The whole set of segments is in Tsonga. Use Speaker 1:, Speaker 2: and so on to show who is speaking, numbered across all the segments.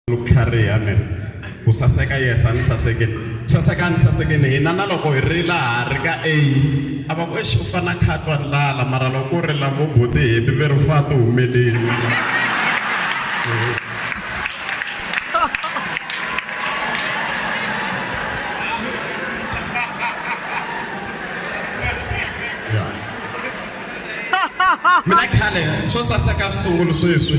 Speaker 1: ku tlhariha ni ri ku saseka yesa ni sasekeni ku saseka ni sasekeni hina na loko hi ri laha ri ka a a va ku exi u fana khatwa ndlala mara loko u ri lavo boti hepi ve ri fa ti humeleli mina khale swo saseka sungulu sweswi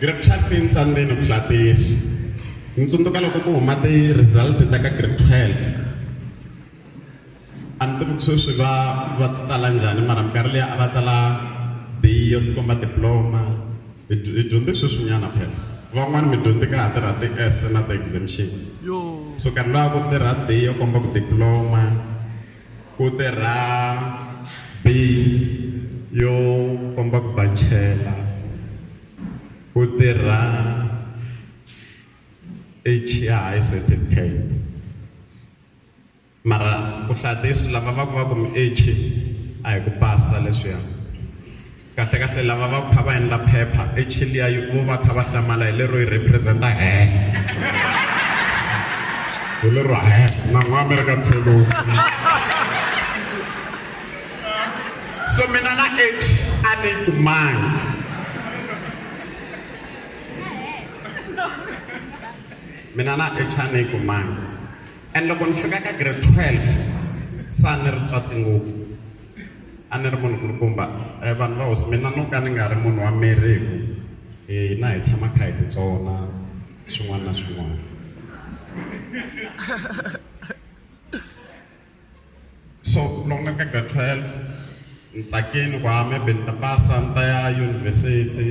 Speaker 1: Grade 12 yi ni tsandzeni ku hlaya tiyisu. Ni tsundzuka loko ku huma ti-result ta ka grade 12. A ni tivi ku sweswi va va ti tsala njhani mara minkarhi liya a va tsala D yo ti komba diploma. Hi hi dyondze sweswinyana phela. Van'wana mi dyondze ka ha tirha ti-S na ti-exemption. So karhi luwa ku tirha D yo komba ku diploma. Ku tirha bin yo komba ku ba chela. Ku tirha H ya high certificate. Mara ku hlaya tisu lava va ku va ku mi H a hi ku pasa leswiya. Kahlekahle lava va ku kha va endla phepha e Chilia yi vo va kha va hlamala hi lero yi representa hell. Hi lero hell na n'wa American tlhelo u file. So mina na age a ni yi kumangi. Mina na age a ni yi kumangi and loko ni fika ka grade 12 sa ni ri tswatsi ngopfu. A ni ri munhu kulukumba vanhu va hosi mina no ka ni nga ri munhu wa miri hi ku hina hi tshama kha hi ti tsona swin'wana na swin'wana so loko ni ri ka grade 12 ni tsakini ku ha maybe ni ta pasa ni ta ya yunivhesiti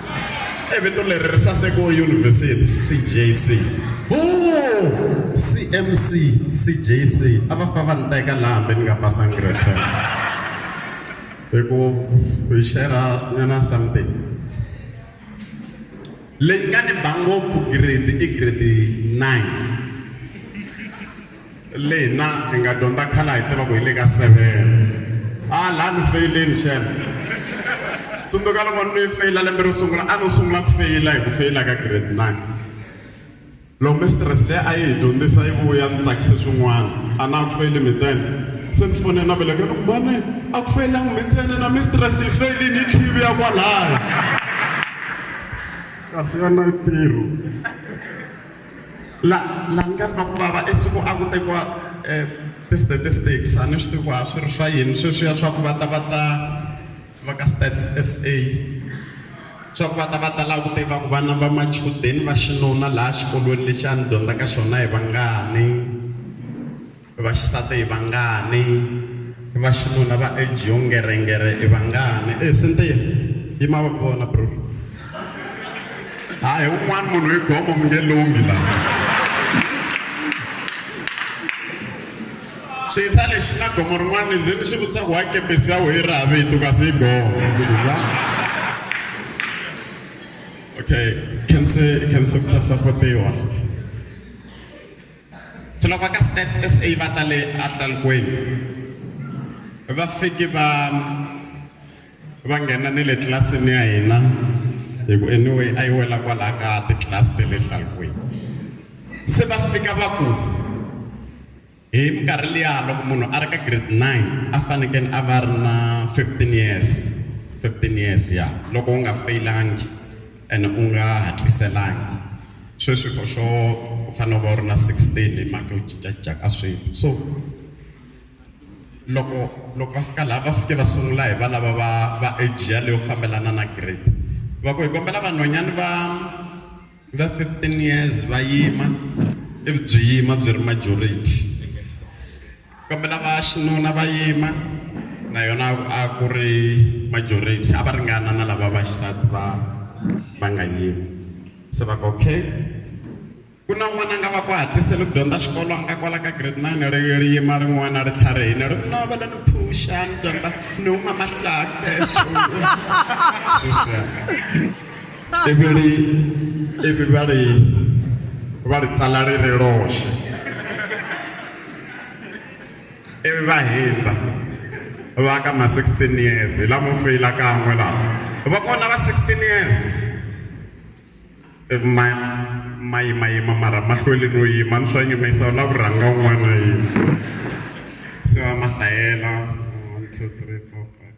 Speaker 1: i vito leri ri saseke yunivhesiti CJC boo CMC CJC a va fa va ni teka laha hambi ni nga pasanga grade 12 hi ku hi shera nyana something leyi nga ni ba ngopfu grade i grade 9 leyi hina hi nga dyondza khale a hi tiva ku hi le ka seven a laha ni feyileni xana tsundzuka loko ni feyila lembe ro sungula a no sungula ku feyila hi ku feyila ka grade nine loko mistress leyi a yi hi dyondzisa yi vuya ni tsakise swin'wana a na ku feyili mi ntsena se ni fone na veleke ni ku mane a ku feyilangi mi ntsena na mistress yi feyilini yi tlhivi ya kwalaya kasi yona yi tirho La, la ni nga twa ku vava i siku a ku tekiwa eh, ti-statistics a ni swi tivi ku a swi ri swa yini sweswiya swa ku va ta va ta va ka stats sa swa ku va ta va ta lava ku tiva ku vana va machudeni va xinuna laha xikolweni lexi a ni dyondza ka xona hi vangani Vaxisati i vangani? Vaxinuna va ejongerengere i vangani? E Sintiya, yima va ku vona bro. Hayi un'wana munhu i gomo mi nge lunghi laha. Xiyisa lexi na gomo rin'wana ni ze ni xi vutisa ku wa kepesi ya wehe ra vito kasi i gomo. Okay, khense khense ku ta sapotiwa. Tlhelo va ka Stats SA va ta le ahlalukweni va fike va va nghena ni le tlilasini ya hina hi ku anyway a yi wela kwalaha ka titlilasi ta le hlalukweni se va fika va ku hi minkarhi liya loko munhu a ri ka grade 9 a fanekele a va ri na 15 years 15 years ya loko u nga fayilangi ene u nga hatliselangi. sweswi for sure u fanele u va u ri na 16 hi mhaka yo cincacinca ka swilo so loko loko va fika laha va fike va sungula hi va lava va va age ya leyo fambelana na grade va ku hi kombela vanhwanyani va va 15 years va yima ivi byi yima byi ri majority Kambe lava xinuna va yima na yona a ku ri majority a va ringana na lava va xisati va va nga yimi se va ku okay ku na n'wana a nga va ku hatliseli ku dyondza xikolo a nga kwala ka grade nine ri ri yima rin'wana ri tlharihini ri ku no va le ni phusha ni dyondza ni huma mahlake ivi ri ivi va ri va ri tsala ri ri roxe ivi va hindza va ka ma 16 years hi lamo feyila kan'we lawa va kona va 16 years ivi ma ma yimayima mara ma hlweli no yima ni swa nyumisa u la ku rhanga un'wana na yini se va ma hlayela one two three four five